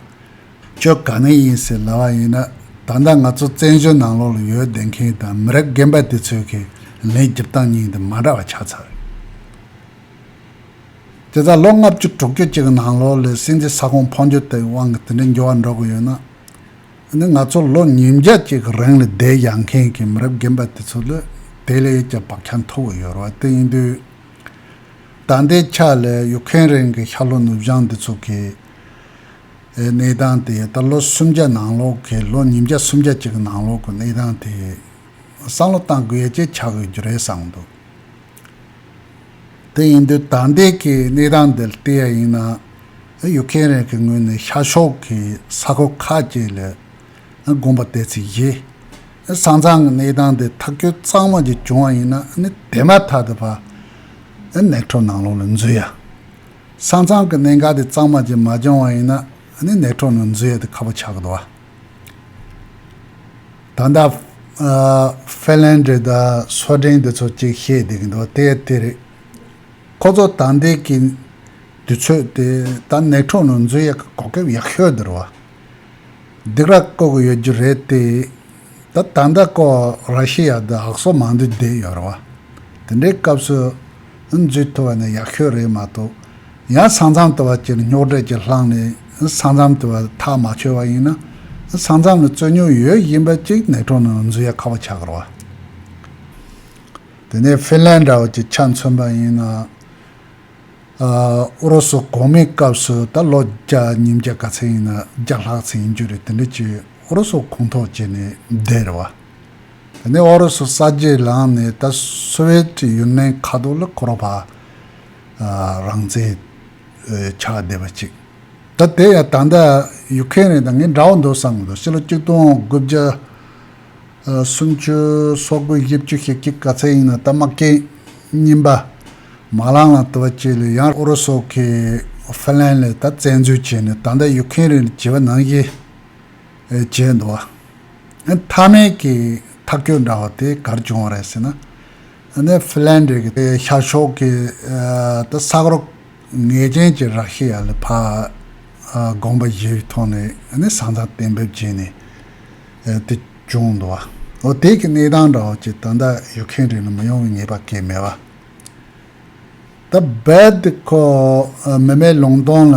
ཁྱོད་ག་ནས་ཡིན་ཟེར་ལབ་བ་ཡིན་ན། ད་ལྟ་ང་ཚོ་བཙན་བྱོལ་ནང་ལོག་ལ་ཡོད་བསྡད་མཁན་དང་མི་རབས་རྒན་པ་དེ་ཚོའི་ཁས་ལེན་བསྒྱུར་སྟངས་གཉིས་འདི་མ་འདྲ་བ་ཆགས་ཚར། དེ་ལྟར་ལོ་ལྔ་བཅུ་དྲུག་ཅུ་གཅིག་གི་ནང་ལོ་ལོས་སྲིད་འཛིན་ས་ཁོངས་འཕོ་འགྱུར་དེ་ཡི་དབང་གིས་དེ་འདྲའི་འགྱུར་བ་འགྲོ་དགོས་ཡོད་ན། འདི་ང་ཚོ་ལོ་ཉིས་བརྒྱ་གཅིག་གི་རིང་ལ་བསྡད་ཡག་མཁན་གྱི་མི་རབས་རྒན་པ་དེ་ཚོ་ལས་དེ་ལས་ཀྱང་བག་ཆགས་མཐོ་བོ་ཡོད་རོགས་དེ་ཡིན་དུས། ད་ལྟའི་ཆ་ལ་ཡུག་ཁན་རན་གྱི་ཤར་ལྷོ་ནུབ་བྱང་འདི་ཚོ་གི་གནས་སྟངས་དེ་ད་ལོ་སུམ་བརྒྱ་ནང་ལོ་གི་ལོ་ཉིས་བརྒྱ་སུམ་བརྒྱ་གཅིག་གི་ནང་ལོ་གི་གནས་སྟངས་དེ་བསམ་བློ་བཏང་དགོས་ཡ་གཅིག་ཆགས་ཡོད་རྒྱུ་རེད་བསམ་འདུག། དེ་ཡིན་དུས་ད་ལྟའི་གི་གནས་སྟངས་འདི་ལྟ་ཡ་ཡིན་ན། ཡུག་མཁན་རིགས་ཀྱི་ངོས་ནས་ཤར་ཕྱོགས་ཀྱི་ས་ཁུལ་ཁ་ཅིག་ལ་དགོན་པ་གཏད་ཚུལ་གཞི། ས་མཚང་གི་གནས་སྟངས་འདི་ཐག་གཅོད་གཙང་མ་ཅིག་བྱུང་བ་ཡིན་ན་ནི་དེ་མ་ཐག་ཏུ་ཕ་ནེ་ཁྲོ་ནང་ལོགས་ལ་འཛུལ་ཡ། ས་མཚང་གི་གནད་འགག་འདི་གཙང་མ་ཅིག་མ་བྱུང་བ་ཡིན་ན་ནི་ནེ་ཁྲོ་ནང་འཛུལ་ཡ་དེ་ཁ་པོ་ཆགས་གི་འདུག་བ། ད་ལྟ། ཧྥེ་ལན་ཀྲི་དང་སོ་ལྡན་འདི་ཚོ་གཅིག་བཤད་བསྡད་ཀྱི་འདུག་དེ་དེ་རེད། ཁོ་ཚོ་ད་ལྟའི་གི་དུས་ཚོད་དེ་ད་ནེ་ཁྲོ་ནང་འཛུལ་ཡག་གི་གོ་ཁེབས་ཡག་ཤོས་དེར་བ། སྡིག་ར་བཀོད་གི་ཡོད་རྒྱུ་རེད་དེ། ད་ད་ལྟ་ཀོ་ར་ཤི་ཡ་དང་ཨག་སོ་མང་འདུས་བསྡད་ཡོད་རེད་བ། དེ་འདྲའི་སྐབས་སུ་འཛུལ་ཐུབ་པ་ནི་ཡག་ཤོས་རེད་མ་གཏོགས། ཡང་ས་མཚམས་དུ་བ་ཅིར་རྙོག་དྲས་ཀྱིས་བསླངས་ནས་ས་མཚམས་དུ་བའི་ཐག་མ་ཆོད་པ་ཡིན་ན། ས་མཚམས་ལ་རྩོད་རྙོག་ཡོད་བཞིན་པ་ཅིག་ནད་གྲོགས་ནང་འཛུལ་ཡ་ཁ་བ་ཆགས་རོགས། དེ་ནས་ཧྥིན་ལན་འདྲ་བ་ཅིག་ཆ་མཚོན་པ་ཡིན་ན། ཨུ་རུ་སུ་གོང་མའི་སྐབས་སུ་ད་ལོ་རྒྱ་ཉིན་བརྒྱ་ག་ཚད་ཡིན་ན་བརྒྱ་ལྷག་ཚད་ཡིན་རྒྱུ་རེད་དེ་འདྲ་ཅིག་ཨུ་རུ་སུ་ཁུངས་ཐོག་བྱས་ནས་བསྡད་རེད་བ། དེ་ནས་ཨུ་རུ་སུ་ས་རྗེས་ལངས་ནས་ད་སོ་ཝེ་ཀྲི་ཡུན་ནན་ཁ་ཐོག་ལ་འཁོར་བ། རང་བཙན། ཆགས་བསྡད་པ་ཅིག། ད་དེ་ཡང་ད་ལྟ་ཡུག་ཁན་རེད་ད་ངས་འདྲ་བོ་འདུག་བསམ་གི་འདུག་ཕྱི་ལོ་གཅིག་སྟོང་དགུ་བརྒྱ་སུམ་བཅུ་སོ་དགུ་བཞི་བཅུ་ཞེ་གཅིག་ག་ཚད་ཡིན་ན་ད་དམག་རྐྱེན་རྙིང་པ་མ་ལངས་ལ་དུ་བ་བཅས་ལས་ཡང་ཨུ་རུ་སོག་གིས་ཧྥི་ལན་ལེ་ད་བཙན་འཛུལ་བྱས་ནས་ད་ལྟ་ཡུག་ཁན་རེད་བྱེད་པ་ནང་བཞིན་བྱས་འདུག་བ། མཐའ་མའི་གི་ཐག་གཅོད་འདྲ་བོ་དེ་གར་བྱུང་བ་རེད་ཟེར་ན། ནེ་ཕི་ལན་རི་གི་ཤར་ཕྱོགས་ཀྱི་དུ་ས་རོག་ངེས་ཅན་གྱི་རགས་ཤིག་ཡ་ལི་བྷ་དགོན་པ་བཞིའི་ཐོག་ནས་ཟང་ཟིང་གཏན་འབེབས་བྱས་ནས་དེ་བྱུང་འདུག་བ་འོ་དེ་གི་གནས་སྟངས་འདྲ་བ་ཅིག་ད་ལྟ་ཡོད་མཁན་རེད་ན་མི་ཡོང་བའི་ངེས་པ་གས་མེད་བ་ད་རྦད་དེ་ཁོ་མི་མེད་ལུང་སྟོང་ལ་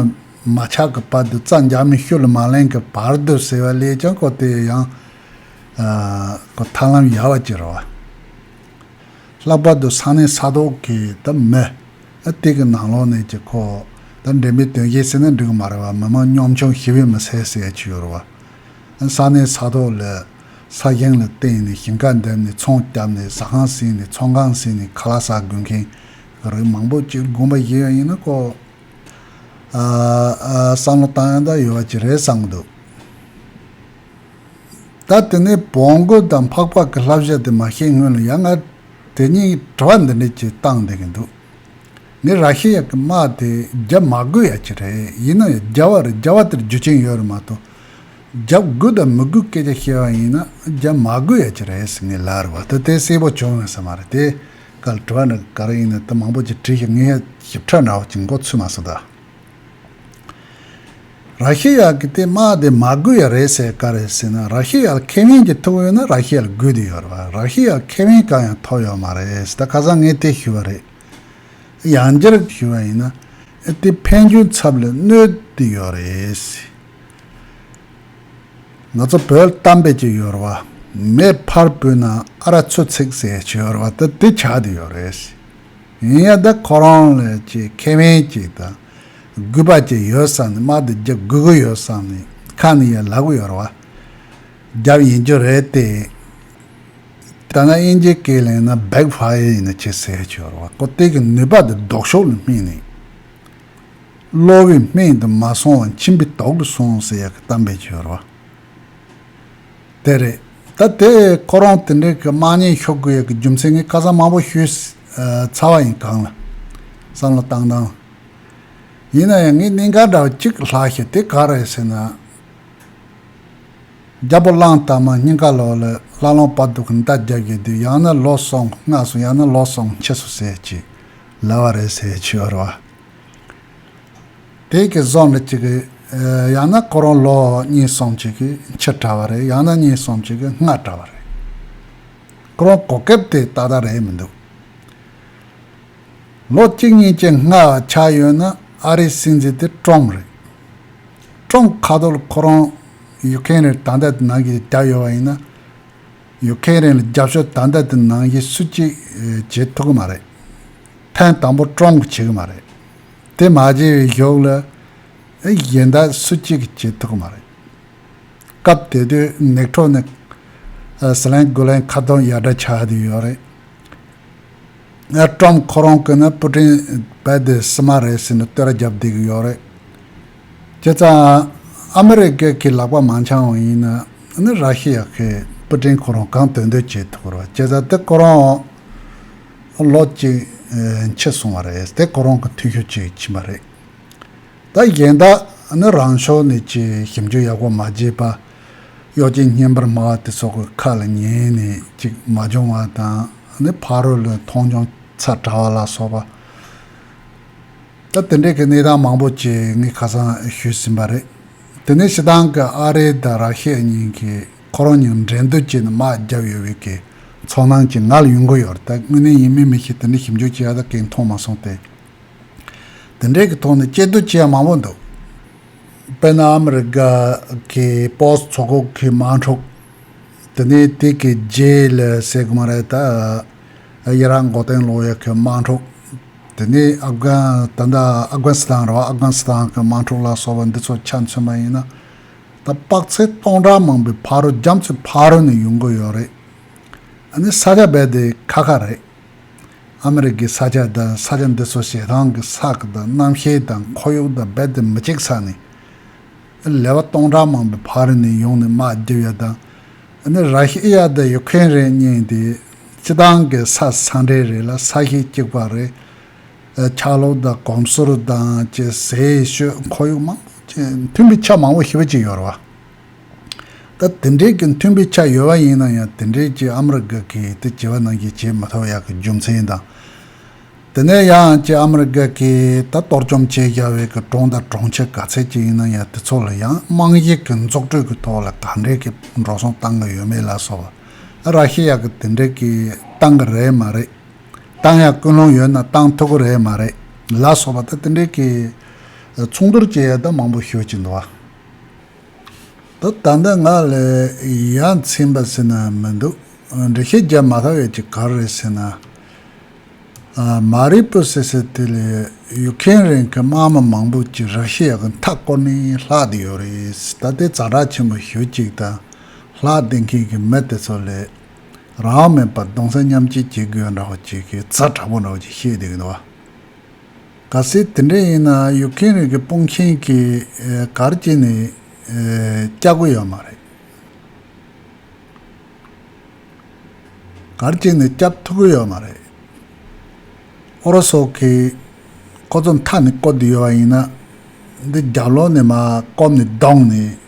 མ་ཆགས་ཀི་བར་དུ་རྩ་འཇག་མི་ཤུ་ལ་མ་གླེང་གི་བར་དུ་ཟེར་བ་ལས་ཀྱང་ཁོ་དེ་ཡང་ཁོ་ཐར་ལམ་ཡལ་བ་ཅི་རེད་བ། ལྷག་པར་དུ་ས་གནས་ས་ཐོག་གི་ད་མི། སྟེགས་ཀྱི་ནང་ལོགས་ནས་ཀྱི་ཁོ། ད་འགྲེམས་པའི་དོན་ཤེས་སྲིད་ན་འགྲིག་གི་མ་རེད་བ་མི་མང་གཉོམ་ཆུང་ཤི་བས་མི་སེར་སེར་ཆུ་ཡོར་བ། ས་གནས་ས་ཐོག་ལ། ས་ཞིང་ལ་བརྟེན་ནས་ཞིང་ཁ་འདེབས་ནས་ཚོང་བསྐྱབས་ནས་ཟ་ཁང་ཟིན་ནས་ཚོང་ཁང་ཟིན་ནས་ཁ་ལག་ཟ་དགོས་མཁན་གྱི་རིགས་མང་པོ་སྤྱིར་དགོན་པ་ཞིག་ཡང་ཡིན་ན་ཁོ། བསམ་བློ་བཏང་ཡང་ད་ཡོད་བ་ཅིག་རེད་བསམ་གྱི་འདུག། ད་དེ་ནས་བོང་རྒོད་དང་འཕགས་པ་གི་ལྷ་བཞག་དེ་མ་ཤེས་སྔོན་ལ་ཡང་ང་དེ་གཉིས་དྲི་བ་འདི་འདྲ་གྱིས་བཏང་བསྡད་ཀྱི་འདུག་ངས་ར་ཤི་ཡ་གི་དམག་དེ་རྒྱབ་མ་དགོས་ཡ་ཅི་རེད་ཡིན་ན་ཡ་རྒྱབ་བ་རེད་རྒྱབ་བ་དེར་རྒྱུ་ཆེན་ཡོད་རེད་མ་གཏོགས་རྒྱབ་དགོས་དང་མི་དགོས་སྐད་ཆ་བཤད་བ་ཡིན་ན་རྒྱབ་མ་དགོས་ཡ་ཅི་རེད་ཟེར་ངས་ལ་རེ་བ་ད་དེ་གསལ་པོ་བྱུང་ཡོང་ས་མ་རེད་དེ་ག་ལ་དྲི་བ་འདྲ་ག་རེ་ཡིན་ན་ད་མང་པོ་ཅིག་དྲིས་ཤིག་ངས་ཞིབ་ཕྲ་འདྲ་བོ་ཅིག་མགོ་ཚོས་མ་སོང་ད། ར་ཤི་ཡ་གི་དེ་དམག་དེ་མ་དགོས་ཡ་རེད་ཟེར་ག་རེད་ཟེར་ན་ར་ཤི་ཡ་ལ་ཁེ་བན་གྱི་ཐུགས་ཡོད་ན་ར་ཤི་ཡ་ལ་དགོས་དུས་ཡོད་རེད་ར་ཤི་ཡ་ལ་ཁེ་བན་གང་ཡང་ཐོབ་ཡོད་མ་རེད་ཟེར་ད་ཁ་སང་ངས་དེ་ཞུ་བ་རེད་ཡང་འགྱར་ཞུ་བ་ཡིན་ན་དེ་ཕན་ཆུང་ཚབ་ལས་གནོད་དུ་ཡོད་རེད། ང་ཚོ་བོད་གཏམ་དཔེ་ཅིག་ཡོད་རེད་བ། མེད་ཕར་བོད་ནང་ཨ་ར་ཚོད་ཚིག་ཟེར་ཞིག་ཡོད་རེད་བ་ད་དེ་ཆགས་དུ་ཡོད་རེད། ཡིན་ཡང་ད་ཁོ་རང་ལ་ཆེས་ཁེ་བན་ཅིག་དང་གུས་པ་ཅིག་ཡོད་བསམ་ནས་དམག་འདི་རྒྱག་དགོས་ཀྱི་ཡོད་བསམ་ནས་ཁ་ནས་ཡར་ལག་གཡོར་བ་རྒྱབ་ཡིན་རྒྱུ་རེད་དེ། ད་ང་དབྱིན་ཇིའི་སྐད་གླེང་ན back fire ཡིན་ན་ཆེས་ཟེར་ཤོར་བ་ཀོ་ཏེག་གི་ནུས་པ་དེ་ལྡོག་ཕྱོགས་ལ་སྨིན་ནས། གློ་བའི་སྨན་དེ་མ་སོང་བར་མཆིན་པའི་དོག་གིས་སོང་ཟེར་ཡག་གི་གཏམ་བེད་ཤོར་བ། དེ་རེད། ད་དེ་ཁོ་རང་དེ་འདྲའི་གི་དམག་ཉེན་ཤོར་དགོས་ཡོད་གི་རྒྱུ་མཚན་ངས་བཀའ་གསང་མང་པོ་ཞུས་ཚར་བ་ཡིན་གང་ལ། བསམ་བློ་བཏང་དང། ཡིན་ན་ཡང་ངས་གནད་འགག་འདྲ་བ་གཅིག་ལྷག་ཤེས་དེ་ག་རེད་ཟེར་ན། རྒྱ་པོ་གླང་དར་མ་སྙིང་ག་ལོག་ལ་སླར་ལོང་བར་འདུག་གི་མདའ་རྒྱག་གི་དུས་ཡང་ན་ལོག་སོང་སྔ་སོང་ཡང་ན་ལོག་སོང་ཕྱི་སོང་ཟེར་གྱི་ལབ་བ་རེད་ཟེར་གྱི་ཡོད་རེད་བ། དེ་གི་བཟང་ལ་གཅིག་གི། ཡང་ན་ཁོ་རང་ལོ་གཉིས་སམ་གཅིག་གི་ཕྱིར་གྲྭ་བ་རེད་ཡང་ན་གཉིས་སམ་གཅིག་གི་སྔར་གྲྭ་བ་རེད། ཁོ་རང་གོ་སྐབས་དེ་ད་ལྟ་རེད་མི་འདུག། ལོ་གཅིག་གཉིས་ཀྱི་སྔ་བ་ཆགས་ཡོད་ན་ཨ་རིའི་སྲིད་འཛིན་དེ་ཀྲོམ་རེད། ཀྲོམ་ཁ་རྡོར་ཁོ་རང་ཡུག་ཁེན་རེར་ད་ལྟ་ནང་གི་རྒྱབ་ཡོད་པ་ཡིན་ན། ཡུག་ཁེན་རེ་ལ་རྒྱབ་ཤོག་ད་ལྟ་དེ་ནང་གི་སུ་གཅིག་བྱེད་ཐུག་གི་མ་རེད། ཐེངས་དང་པོ་སྤྲོ་འགོ་བྱེད་ཀྱི་མ་རེད། དེ་མ་བྱས་པའི་ཞོགས་ལ། གཞན་དག་སུ་གཅིག་བྱེད་ཐུབ་ཀྱི་མ་རེད། སྐབས་དེ་དུས་ནེག་ཁྲོ་ནི། ཟི་ལན་སྒོ་ལན་ཁ་སྟོང་ཡར་འདྲ་ཆགས་དུས་ཡོད་རེད། ཀྲོམ་ཁོ་རང་གིས་ན་སྤུ་ཕྲེང་རྦད་དེ་བསིལ་མ་རེད་ཟེར་ནས་བསྟོད་ར་བརྒྱབ་བསྡད་ཀྱི་ཡོད་རེད། ཁྱེད་ཚང་ཨ་མི་རི་ཀའི་གི་ལག་པ་མང་ཆང་བ་ཡིན་ན། ར་ཤི་ཡ་གིས་སྤུ་ཕྲེང་ཁོ་རང་གང་དོན་འདོད་བྱེད་ཐུབ་ཀྱི་རེད་ཁྱེད་ཚང་དེ་ཀོ་རང། ལོ་གཅིག་འཆི་སོང་བ་རེད་དེ་ཁོ་རང་གི་འཐུས་ཤོར་གཅིག་ཕྱིན་པ་རེད། ད་གཞན་དག་ནི་རང་ཕྱོགས་ནས་ཀྱི་ཞིབ་འཇུག་ཡག་པོ་མ་བྱས་པ། གཡོག་ཅན་བརྙན་པར་སྨྲ་བ་དེ་ཚོ་གི་ཁ་ལ་ཉན་ནས་ཅིག་མ་སྦྱོང་བ་དང་ནི་ཕ་རོལ་ལོའི་མཐོང་ཆུང་ཚ་དྲག་བ་ལ་སོགས་པ། ད་དེ་འདྲས་ཀྱི་གནས་སྟངས་མང་པོ་ཅིག་ངས་ཁ་སང་ཞུས་ཟིན་པ་རེད། དེ་ནས་ཕྱི་དང་གི་ཨ་རེ་དང་ར་ཤས་གཉིས་ཀྱིས། ཁོ་རང་ཉིད་འགྲན་བསྡུར་བྱས་ནས་དམག་བརྒྱབ་ཡོད་བས་ཀྱི་ཚོགས་ནང་གྱི་ང་ལ་ཡོང་གི་ཡོད་རེད་ད་དངོས་གནས་ཡིན་མིན་མི་ཤེས་དེ་འདྲའི་ཞིབ་འཇུག་བྱས་ཡག་ད་གིན་མཐོང་མ་སོང་སྟེ། དེ་འདྲའི་གི་ཐོག་ནས་དཔྱད་བསྡུར་བྱས་ཡག་མང་བོ་འདུག་དཔེར་ན་ཨ་མི་རི་ཀ་གི Post ཚོགས་ཁོག་གི་དམག་འཁྲུག་དེ་ནས་དེ་གི་རྗེས་ལ་སེ་གོ་མ་རེ་ད་ཡི་རང་མགོ་སྟེང་ལོག་ཡོད་གི་དམག་འཁྲུག་དེ་ནས་ཨབ་གྷན་ད་ཨ Afghanistan རེད་བ Afghanistan གི་དམག་འཁྲུག་ལ་སོགས་པ་འདི་ཚོ་ཆ་མཚོན་པ་ཡིན་ན། ད་དཔག་ཚད་སྟོང་ཕྲག་མང་པོའི་ཕ་རོལ་རྒྱ་མཚོའི་ཕ་རོལ་ནས་ཡོང་གི་ཡོད་རེད། ཨ་ནི་ས་ཆ་རྦད་དེ་ཁ་ཁ་རེད། ཨ་མི་རི་ཀའི་ས་ཆ་དང་ས་ཆ་འདི་ཚོ་ཞེ་སྡང་གི་ས་དང་རྣམ་ཤེས་དང་ཁོར་ཡུག་དང་རྦད་དེ་མི་གཅིག་ས་ནས། ཨ་ལེ་བ་སྟོང་ཕྲག་མང་པོའི་ཕ་རོལ་ནས་ཡོང་ནས་དམག་རྒྱབ་ཡ་དང་ཨ་ནི་ར་ཤི་ཡ་དང་ཡུ་ཁེན་རེད་སྙིང་དེ་སྤྱི་སྟངས་གི་ས་ས་འདྲེ་རེད་ལ་ས་ཤི་གཅིག་པ་རེད། ཆག་ལོག་དང་གོམས་སྲོལ་དང་བཅས་ཟས་སྤྱོད་ཁོར་ཡུག་མང་པོ་ཅན་མཐུན་པའི་ཆ་མང་བོ་ཞིབ་ཅིག་ཡོད་རེད། ད་དེ་འདྲས་ཀྱི་མཐུན་པའི་ཆ་ཡོད་པ་ཡིན་ན་ཡང་དེ་འདྲས་ཀྱི་ཨ་མ་རི་ཀ་གིས་དེ་བྱེད་པ་ནང་བཞིན་བྱེད་མི་ཐུབ་ཡག་གི་རྒྱུ་མཚན་དང། དེ་ནས་ཡང་བཅས་ཨ་མ་རི་ཀ་གིས་ད་གཏོར་བཅོམ་བྱེད་རྒྱ་བའི་གི་གྲོང་དང་གྲོང་ཁྱེར་ག་ཚད་ཅིག་ཡིན་ན་ཡང་དེ་ཚོ་ལ་ཡང་རྨང་གཞི་གི་འཛུགས་གྲོས་ཀྱི་ཐོག་ལ་ག་འདྲས་ཀྱི་འགྲོ་སོང་བཏང་གི་ཡོད་མེད་ལ་སོགས་པ་ར་ཤི་ཡག་གི་དེ་འདྲས་ཀྱི་བཏང་གི་རེད་མ་རེད། ཏང་ཡག་ཀུན་སློང་ཡོད་ན་ཏང་མཐུག་གི་རེད་མ་རེད་ལ་སོགས་པ་ད་དེ་འདྲའི་གི་མཚུངས་བསྡུར་བྱེད་ཡ་ད་མང་པོ་ཤོད་ཀྱི་འདུག་བ། ད་ད་འདི་ང་ལ་ཡ་མཚན་པ་ཟེར་ན་མི་འདུག་འགྲེལ་བཤད་རྒྱབ་མ་ཁ་བས་ཀྱི་ག་རེད་ཟེར་ན། མ་རིག་པོ་ཟེར་ཟེར་དེ་ལས་ཡུག་མཁན་རིང་གི་དམག་མི་མང་པོ་ཀྱི་རག་ཤི་ཡག་གི་མཐའ་བསྐོར་ནས་ལྷག་དེ་ཡོད་རེད་ད་དེ་རྩ་དྲག་ཆེན་པོ་ཞུ་ཅིག་དང་ལྷག་དེ་མཁན་གི་མི་དེ་ཚོ་ལས་རང་མེད་པར་གདུང་སེམས་མཉམ་སྐྱེད་བྱེད་དགོས་འདྲ་བ་ཅིག་གི་རྩ་དྲག་པོ་འདྲ་བ་ཅིག་བཤད་བསྡད་ཀྱི་འདུག་བ། ག་སྲིད་དེ་འདྲ་ཡིན་ན་ཡུག་ཁེན་རིགས་ཀྱི་དཔུང་ཆེན་གྱི་གར་གྱིས་ནི་སྐྱག་དགོས་ཡོད་མ་རེད། གར་གྱིས་ནི་སྐྱག་ཐུག་གི་ཡོད་མ་རེད། ཨོ་རོ་སོགས་ཀྱི་ཁོ་ཚོ་མཐའ་ནས་བསྐོར་དུ་ཡོད་བ་ཡིན་ན། འདི་རྒྱབ་ལོག་ནས་མ་བསྐོར་ནས་བསྡོངས་ནས།